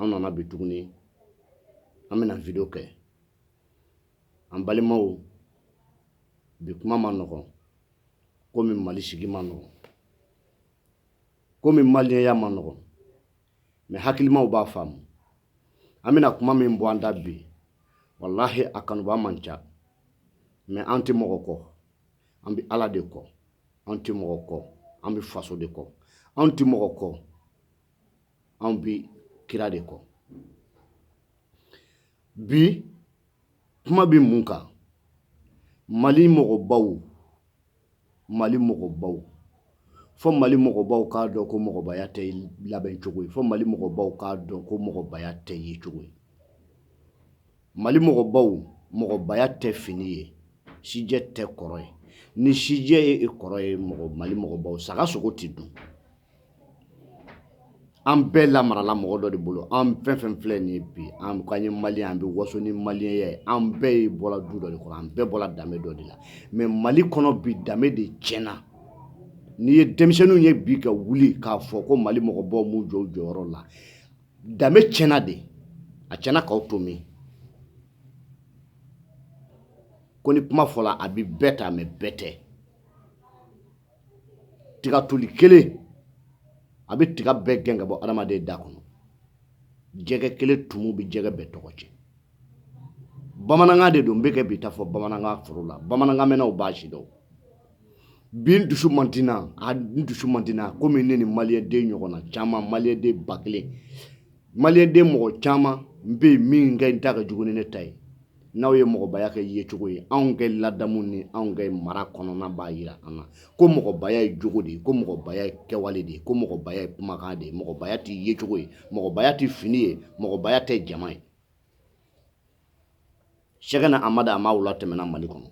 an nana bi tuguni an bɛna video kɛ an balimaw bi kuma man nɔgɔn komi mali sigi man nɔgɔn komi maliyɛnya man nɔgɔn mɛ hakilimaw b'a faamu an bɛna kuma min bɔ an da bi walahi a kanubaa man ca mɛ an tɛ mɔgɔ kɔ an bɛ ala de kɔ an tɛ mɔgɔ kɔ an bɛ faso de kɔ an tɛ mɔgɔ kɔ anw bɛ kira de kɔ bi kuma bɛ mun kan mali mɔgɔbaw mali mɔgɔbaw fɔ mali mɔgɔbaw k'a dɔn ko mɔgɔbaya tɛ labɛncogo ye fɔ mali mɔgɔbaw k'a dɔn ko mɔgɔbaya tɛ yecogo ye mali mɔgɔbaw mɔgɔbaya tɛ fini ye sijɛ tɛ kɔrɔ ye ni sijɛ ye kɔrɔ ye mɔgɔ mali mɔgɔbaw saga sogo tɛ dun an bɛɛ lamarala mɔgɔ dɔ de bolo an fɛn fɛn filɛ nin ye bi an ko an ye maliyɛn an bɛ waso ni maliyɛnya ye an bɛɛ ye bɔra du dɔ de kɔnɔ an bɛɛ bɔra danbe dɔ de la mɛ mali kɔnɔ bi danbe de tiɲɛna n'i ye denmisɛnninw ye bi ka wuli k'a fɔ ko mali mɔgɔbaw m'u jɔ u jɔyɔrɔ la danbe tiɲɛna de a tiɲɛna k'aw to min ko ni kuma fɔla a bɛ bɛɛ ta mɛ bɛɛ tɛ tiga toli kelen a bɛ tiga bɛɛ gɛn ka bɔ adamaden da kɔnɔ jɛgɛ kelen tumu bɛ jɛgɛ bɛɛ tɔgɔ tiɲɛ bamanankan de don n bɛ ka bi ta fɔ bamanankan foro la bamanankan mɛnnaw b'a sidɔn bi n dusu man di a n dusu man di komi ne ni maliyɛnden ɲɔgɔn na caman maliyɛnden ba kelen maliyɛnden mɔgɔ caman bɛ yen min kɛ n ta ka jugu ni ne ta ye n'aw ye mɔgɔbaya kɛ yecogo ye anw ka ladamu ni anw ka mara kɔnɔna b'a jira an na ko mɔgɔbaya ye jogo de ye ko mɔgɔbaya ye kɛwale de ye ko mɔgɔbaya ye kumakan de ye mɔgɔbaya tɛ yecogo ye mɔgɔbaya tɛ fini ye mɔgɔbaya tɛ jama ye sɛkina amadu amawula tɛmɛna mali kɔnɔ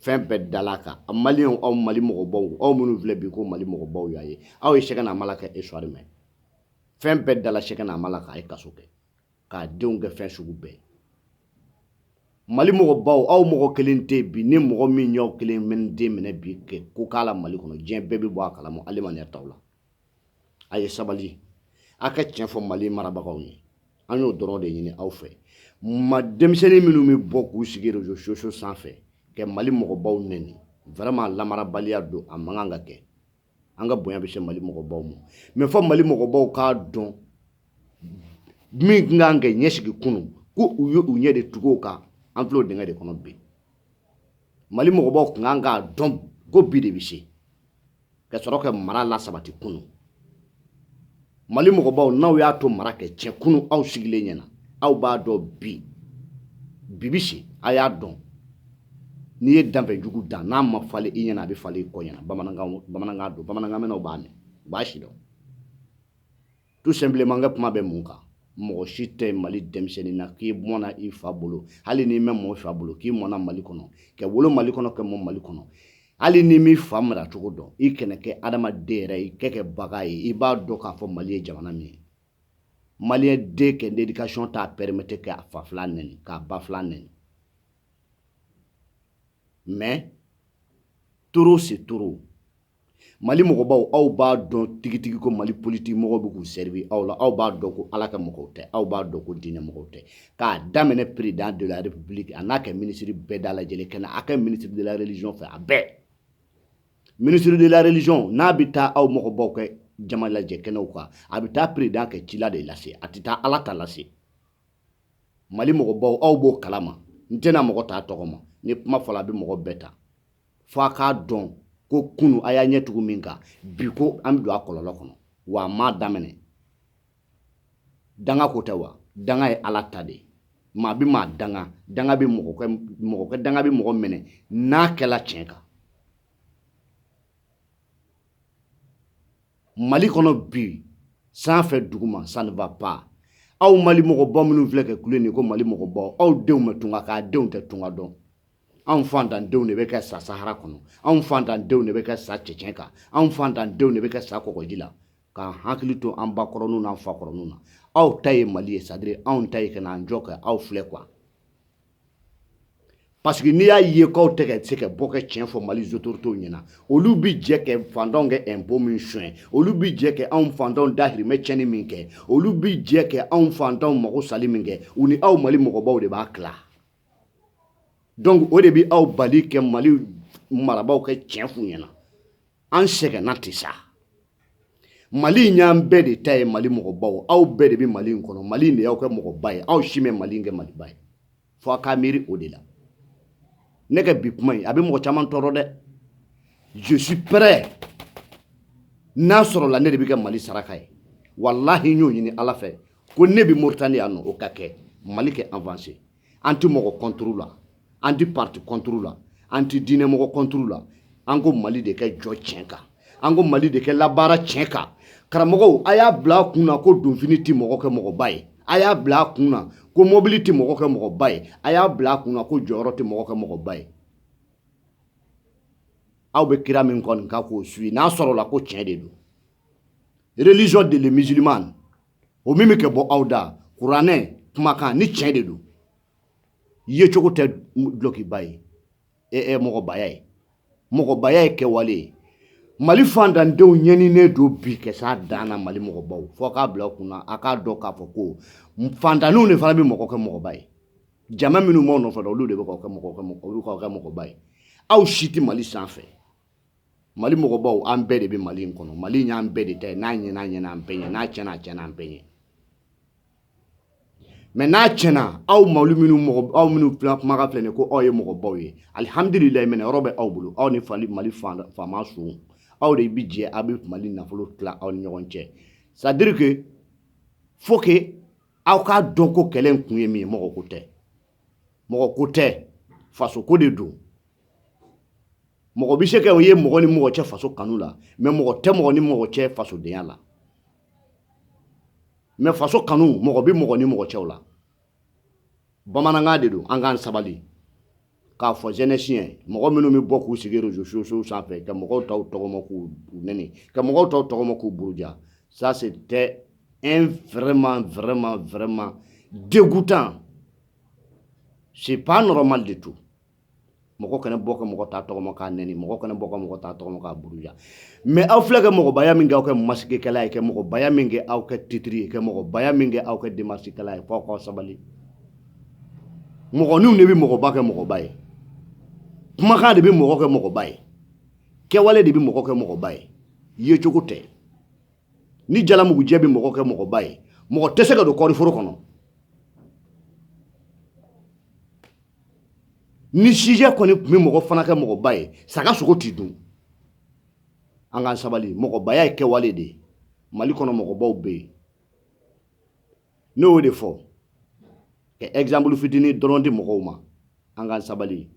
fɛn bɛɛ dal'a kan a maliyɛnw aw mali mɔgɔbaw aw minnu filɛ bi ko mali mɔgɔbaw y'a ye aw ye sɛkina amala ka isitwari mɛn fɛn bɛɛ dala sɛkina amala kan a ye kaso kɛ k'a denw kɛ fɛn sugu bɛɛ mali mɔgɔbaw aw mɔgɔ kelen tɛ bi ni mɔgɔ min y'aw kelen mɛn den minɛ bi ka ko k'a la mali kɔnɔ diɲɛ bɛɛ bɛ bɔ a kalama ale ma taw la a ye sabali a ka tiɲɛ fɔ mali marabagaw ye an y'o dɔrɔn de ɲini aw fɛ mɛ denmisɛnnin minnu bɛ bɔ k'u sigi rezo sosiyo sanfɛ ka mali mɔgɔbaw nɛni vraiment lamarabaliya don a man kan ka kɛ an ka bonya bɛ se mali mɔgɔbaw ma mɛ fɔ mali mɔgɔbaw k'a dɔn min tun kan ka ɲɛsigi kunu ko u ye u ɲɛ de tugu o kan an filɛ o dingɛ de kɔnɔ bi mali mɔgɔbaw tun kan k'a dɔn ko bi de bɛ se ka sɔrɔ ka mara lasabati kunu mali mɔgɔbaw n'aw y'a to mara kɛ tiɲɛ kunu aw sigilen ɲɛna aw b'a dɔn bi bɛ se a y'a dɔn n'i ye danfɛn jugu dan n'a ma falen i ɲɛna a bɛ falen i kɔ ɲɛna bamanankan don bamanankan mɛnnaw b'a mɛn u b'a si dɔn tout simplement n ka kuma bɛ mun kan mɔgɔ si tɛ mali denmisɛnnin na k'i mɔna i fa bolo hali n'i mɛ mɔ i fa bolo k'i mɔna mali kɔnɔ ka wolo mali kɔnɔ ka mɔ mali kɔnɔ hali n'i m'i fa mara cogo dɔn i kana kɛ adamaden yɛrɛ i kɛ kɛ bagan ye i b'a dɔn k'a fɔ mali ye jamana min ye maliyɛn den kɛ l'éducation t'a permettre k'a fa filan nɛni k'a ba filan nɛni mais trop c'est trop mali mɔgɔbaw aw b'a dɔn tigitigi ko mali politiki mɔgɔw bɛ k'u servir aw la aw b'a dɔn ko ala ka mɔgɔw tɛ aw b'a dɔn ko diinɛ mɔgɔw tɛ k'a daminɛ président de la république a n'a kɛ ministre bɛɛ da lajɛlen kɛnɛ a kɛ ministre de la religion fɛ a bɛɛ ministre de la religion n'a bɛ taa aw mɔgɔbaw kɛ jama lajɛ kɛnɛw kan a bɛ taa président kɛ cila de lase a tɛ taa ala ta lase mali mɔgɔbaw aw b'o kalama n tɛna mɔgɔ t'a tɔgɔ ma ni kuma fɔla a bɛ mɔgɔ bɛɛ ta fo a k'a dɔn ko kunu a y'a ɲɛ tugu min kan bi ko an bɛ don a kɔlɔlɔ kɔnɔ wa a m'a daminɛ danga ko tɛ wa danga ye ala ta de ye maa bɛ maa danga danga bɛ mɔgɔ kɛ mɔgɔ kɛ danga bɛ mɔgɔ minɛ n'a kɛla tiɲɛ kan mali kɔnɔ bi sanfɛ duguma ça ne va pas aw mali mɔgɔbaw minnu filɛ kɛ kule nin ko mali mɔgɔbaw aw denw bɛ tunga kan aw denw tɛ tunga dɔn anw fantandenw de bɛ kɛ sa sahara kɔnɔ anw fantandenw de bɛ kɛ sa cɛncɛn kan anw fantandenw de bɛ kɛ sa kɔgɔji la k'an hakili to an ba kɔrɔninw n'an fa kɔrɔninw na aw ta ye mali ye c'est à dire anw ta ye ka n'an jɔ kɛ aw filɛ quoi parce que n'i y'a ye k'aw tɛ ka se ka bɔ ka tiɲɛ fɔ mali autorités ɲɛna olu bi jɛ kɛ fantanw kɛ impôt min suɲɛ olu bi jɛ kɛ anw fantanw dahirimɛ tiɲɛni min kɛ olu bi jɛ kɛ anw fantanw magosali min kɛ u ni aw mali mɔgɔbaw de b'a tila donc o de bi aw bali kɛ mali marabaw kɛ tiɲɛ f'u ɲɛna an sɛgɛnna ten sa mali in y'an bɛɛ de ta ye mali mɔgɔbaw aw bɛɛ de bɛ mali in kɔnɔ mali in de y'aw kɛ mɔgɔba ye aw si mɛ mali in kɛ maliba ye fo a k'a miiri o de la ne ka bi kuma in a bɛ mɔgɔ caman tɔɔrɔ dɛ je suis prêt n'a sɔrɔla ne de bɛ kɛ mali saraka ye walahi n y'o ɲini ala fɛ ko ne bɛ moritani yan nɔ o ka kɛ mali kɛ avancer an tɛ mɔgɔ contre la an tɛ parti contre la an tɛ diinɛmɔgɔ contre la an ko mali de kɛ jɔ tiɲɛ kan an ko mali de kɛ labaara tiɲɛ kan karamɔgɔw a y'a bila a kun na ko donfini tɛ mɔgɔ kɛ mɔgɔba ye a y'a bila a kun na ko mɔbili tɛ mɔgɔ kɛ mɔgɔba ye a y'a bila a kun na ko jɔyɔrɔ tɛ mɔgɔ kɛ mɔgɔba ye aw bɛ kira min kɔni kan k'o suivi n'a sɔrɔla ko tiɲɛ de don religion de les musulmans o min bɛ kɛ bɔ aw da kuranɛ kumakan ni tiɲɛ de don yecogo tɛ dulɔkiba ye ɛ mɔgɔbaya ye mɔgɔbaya ye kɛwale ye mali fantandenw ɲɛninen don bi ka s'a dan na mali mɔgɔbaw fo k'a bila kun na a k'a dɔn k'a fɔ ko fantanninw de fana bɛ mɔgɔ kɛ mɔgɔba ye jama minnu b'aw nɔfɛ olu de bɛ k'aw kɛ mɔgɔba ye aw si tɛ mali sanfɛ mali mɔgɔbaw an bɛɛ de bɛ mali in kɔnɔ mali in y'an bɛɛ de ta ye n'a ɲɛna a ɲɛna an bɛɛ ɲɛ n'a tiɲɛna a tiɲɛna an bɛɛ ɲɛ mais n'a tiɲɛna aw mali minnu mɔgɔ aw minnu fila kumakan filɛ nin ko aw ye mɔgɔbaw ye alihamdulilayi minɛ yɔrɔ bɛ aw bolo aw ni fali mali faama sun aw de bi jɛ aw bɛ mali nafolo tila aw ni ɲɔgɔn cɛ c'est-à-dire que faut que aw k'a dɔn ko kɛlɛ kun ye min ye mɔgɔ ko tɛ mɔgɔ ko tɛ faso ko de don mɔgɔ bɛ se ka o ye mɔgɔ ni mɔgɔ cɛ faso kanu la mais mɔgɔ tɛ mɔgɔ ni mɔgɔ cɛ fasodenya la mais faso kanu mɔgɔ bɛ mɔgɔ ni mɔgɔ cɛw la bamanankan de don an k'an sabali k'a fɔ jeunesse ye mɔgɔ minnu bɛ bɔ k'u sigi réseaux sociaux sanfɛ ka mɔgɔw taw tɔgɔma k'u nɛni ka mɔgɔw taw tɔgɔma k'u buruja ça c'est un vraiment, vraiment, vraiment dégoûtant. C'est pas normal du tout. mɔgɔ kana bɔ ka mɔgɔ ta tɔgɔma k'a nɛni mɔgɔ kana bɔ ka mɔgɔ ta tɔgɔma k'a buruja mais aw filɛ ka mɔgɔbaya min kɛ aw kɛ masigekɛla ye ka mɔgɔbaya min kɛ aw kɛ titre ye ka mɔgɔbaya min kɛ aw kɛ demasikɛla ye fo k'aw sabali mɔgɔninw de bɛ mɔgɔba kɛ mɔgɔba ye kumakan de bɛ mɔgɔ kɛ mɔgɔba ye kɛwale de bɛ mɔgɔ kɛ mɔgɔba ye yecogo tɛ ni jalamugujɛ bɛ mɔgɔ kɛ mɔgɔba ye mɔgɔ tɛ se ka don kɔɔriforo kɔnɔ ni sijɛ kɔni tun bɛ mɔgɔ fana kɛ mɔgɔba ye saga sogo ti dun an k'an sabali mɔgɔbaya ye kɛwale de ye mali kɔnɔ mɔgɔbaw bɛ yen ne y'o de fɔ ka exemple fitinin dɔrɔn di mɔgɔw ma an k'an sabali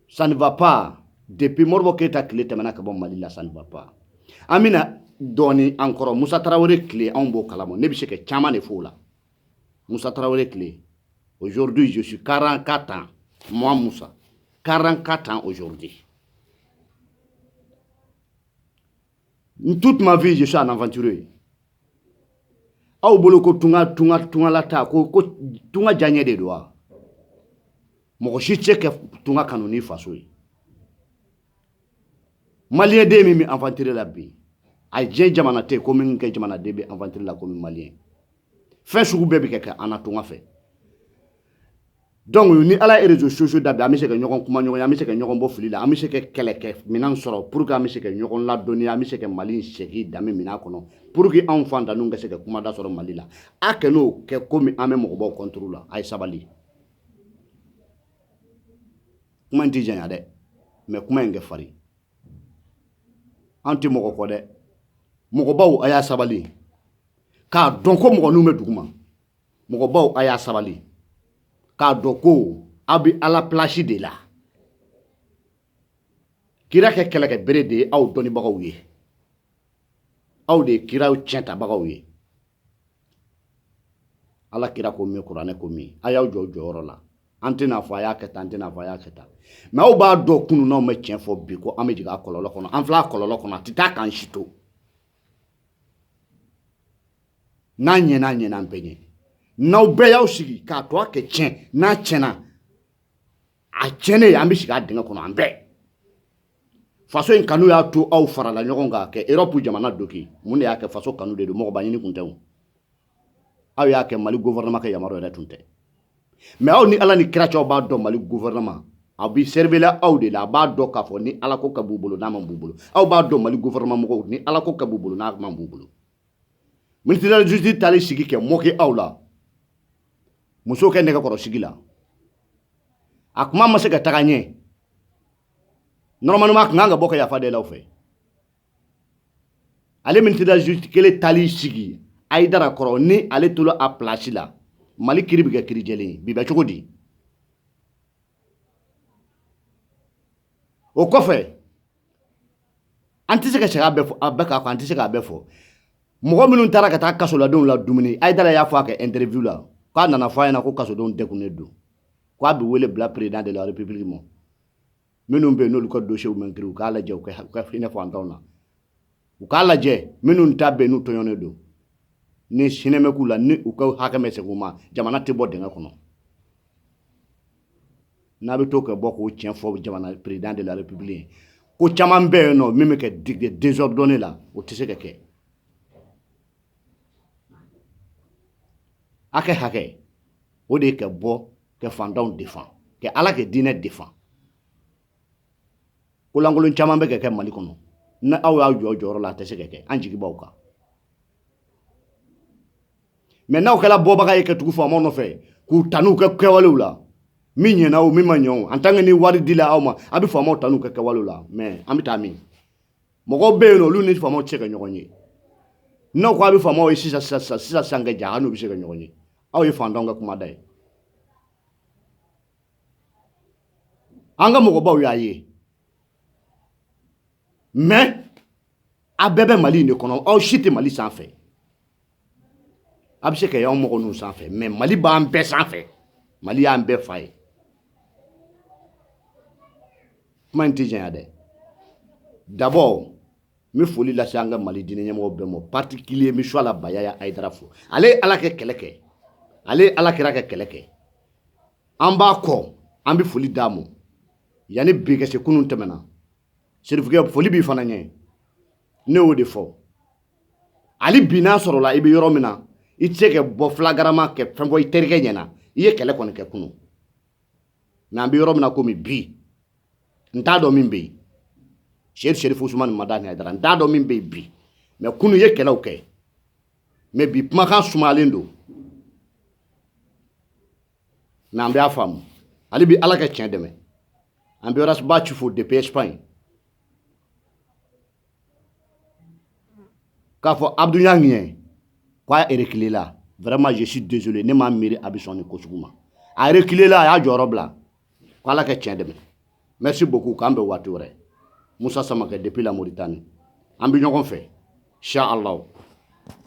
ça ne va pas depuis Modibo Keyita tile tɛmɛna ka bɔ Mali la ça ne va pas an bɛna dɔɔni an kɔrɔ Musa Tarawele tile anw b'o kalama ne bɛ se ka caman de f'o la Musa Tarawele tile aujourd'hui je suis 44 ans moi Musa 44 ans aujourd'hui toute ma vie je suis un aventurier aw bolo ko tunga tunga tungalataa ko ko tunga diyaɲɛ de don wa mɔgɔ si tɛ ka tunga kanu ni faso ye maliyɛn den min bɛ aventure la bi a diɲɛ jamana tɛ ko min ka jamanaden bɛ aventure la komi maliyɛn fɛn sugu bɛɛ bɛ ka kɛ an na tunga fɛ donc ni ala ye réseau sociaux da bi an bɛ se ka ɲɔgɔn kumaɲɔgɔnya an bɛ se ka ɲɔgɔn bɔ fili la an bɛ se ka kɛlɛkɛminɛn sɔrɔ pour que an bɛ se ka ɲɔgɔn ladɔnniya an bɛ se ka mali segin danbe minɛn kɔnɔ pour que anw faantanninw ka se ka kumada sɔrɔ mali la a kan'o kɛ komi an bɛ mɔgɔbaw contre la a ye sabali kuma in tɛ janya dɛ mais kuma in ka farin an tɛ mɔgɔ kɔ dɛ mɔgɔbaw a y'a sabali k'a dɔn ko mɔgɔninw bɛ duguma mɔgɔbaw a y'a sabali k'a dɔn ko aw bɛ ala place de la kira ka kɛlɛkɛbere de ye aw dɔnnibagaw ye aw de ye kiraw tiɲɛtabagaw ye ala kira ko min kuranɛ ko min a y'aw jɔ jɔyɔrɔ la an tɛna fɔ a y'a kɛ tan an tɛna fɔ a y'a kɛ tan mais aw b'a dɔn kunun n'aw ma tiɲɛ fɔ bi ko an bɛ jigin a kɔlɔlɔ kɔnɔ an filɛ a kɔlɔlɔ kɔnɔ a tɛ taa k'an si to n'a ɲɛna a ɲɛna an bɛɛ ɲɛ n'aw bɛɛ y'aw sigi k'a to a ka tiɲɛ n'a tiɲɛna a tiɲɛnen an bɛ sigi a dingɛ kɔnɔ an bɛɛ faso in kanu y'a to aw farala ɲɔgɔn kan ka europe jamana doki mun de y'a kɛ faso kanu de don mɔgɔba ɲini kun tɛ o aw y'a kɛ mali gouvernement ka yamaruya yɛrɛ tun tɛ mais aw ni ala ni kira cɛw b'a dɔn mali gouvernement a bi sɛrbela aw de la a b'a dɔn k'a fɔ ni ala ko ka b'u bolo n'a man b'u bolo aw b'a dɔn mali gouvernement mɔgɔw ni ala ko ka b'u bolo n'a man b'u bolo ministre de la justice taal'i sigi ka moquer aw la muso ka nɛgɛkɔrɔsigi la a kuma ma se ka taga ɲɛ normalement a kun kan ka bɔ ka yafa deli aw fɛ ale ministre de la justice kelen taal'i sigi hayidara kɔrɔ ni ale tola a place la mali kiri bɛ kɛ kiri jɛlen ye bi bɛ cogo di o kɔfɛ an tɛ se ka sariya bɛɛ fɔ a bɛɛ k'a fɔ an tɛ se k'a bɛɛ fɔ mɔgɔ minnu taara ka taa kasoladenw ladumuni hayidara y'a fɔ a ka interview la k'a nana fɔ a ɲɛ na ko kasodenw degunnen don k'a bɛ wele bila président de la république ma minnu bɛ yen n'olu ka dossierw ma kiri u k'a lajɛ u ka hinɛ faantanw na u k'a lajɛ minnu ta bɛ n'u tɔɲɔnen don ni sinmɛ k'u la ni u ka hakɛ ma segin u ma jamana tɛ bɔ dingɛ kɔnɔ n'a bɛ to ka bɔ k'o tiɲɛ fɔ jamana président de la république ye ko caman bɛ yen n'o min bɛ kɛ désordonné la o tɛ se ka kɛ hakɛ hakɛ o de ye ka bɔ ka fantanw defan ka ala ka diinɛ defan ko lankolon caman bɛ ka kɛ mali kɔnɔ ni aw y'aw jɔ jɔyɔrɔ la a tɛ se ka kɛ an jigi b'aw kan mɛ n'aw kɛra bɔbaga ye ka tugu faamaw nɔfɛ k'u tanu u ka kɛwalew la min ɲɛna o min ma ɲɛ o en tant que ni wari dila aw ma aw bɛ faamaw tanu u ka kɛwalew la mɛ an bɛ taa min mɔgɔw bɛ yen olu ni faamaw tɛ se ka ɲɔgɔn ye n'aw ko aw bɛ faamaw ye sisan sisan kɛ ja aw n'u bɛ se ka ɲɔgɔn ye aw ye fantanw ka kumada ye an ka mɔgɔbaw y'aw ye mɛ aw bɛɛ bɛ mali in de kɔnɔ aw si tɛ mali sanfɛ aw bɛ se ka y'aw mɔgɔ ninnu sanfɛ mɛ mali b'an bɛɛ sanfɛ mali y'an bɛɛ fa ye kuma in tɛ janya dɛ d'abord n bɛ foli lase an ka mali diinɛ ɲɛmɔgɔ bɛɛ ma particulier n bɛ shuwala bayaya ayidara fo ale ye ala ka kɛlɛ kɛ ale ye ala kira ka kɛlɛ kɛ an b'a kɔ an bɛ foli d'a ma yanni bi ka se kunun tɛmɛna serifukɛ foli b'i fana ye ne y'o de fɔ hali bi n'a sɔrɔla i bɛ yɔrɔ min na i tɛ se ka bɔ flagramment ka fɛn fɔ i terikɛ ɲɛ na i ye kɛlɛ kɔni kɛ kunun mɛ an bɛ yɔrɔ min na komi bi n t'a dɔn min bɛ yen seri serifu usumani madani ayidara n t'a dɔn min bɛ yen bi mɛ kunun i ye kɛlɛw kɛ mɛ bi kumakan sumalen don mɛ an b'a faamu hali bi ala ka tiɲɛ dɛmɛ an bɛ ras bath fo depuis espagne k'a fɔ abdu ɲangi ye k'a erekilela vraiment je suis désolé ne m'a miiri a bɛ sɔn nin ko sugu ma a erekilela a y'a jɔyɔrɔ bila ko ala ka tiɲɛ dɛmɛ merci beaucoup k'an bɛ waati wɛrɛ musa samakɛ depuis la mauritanie an bɛ ɲɔgɔn fɛ inshallah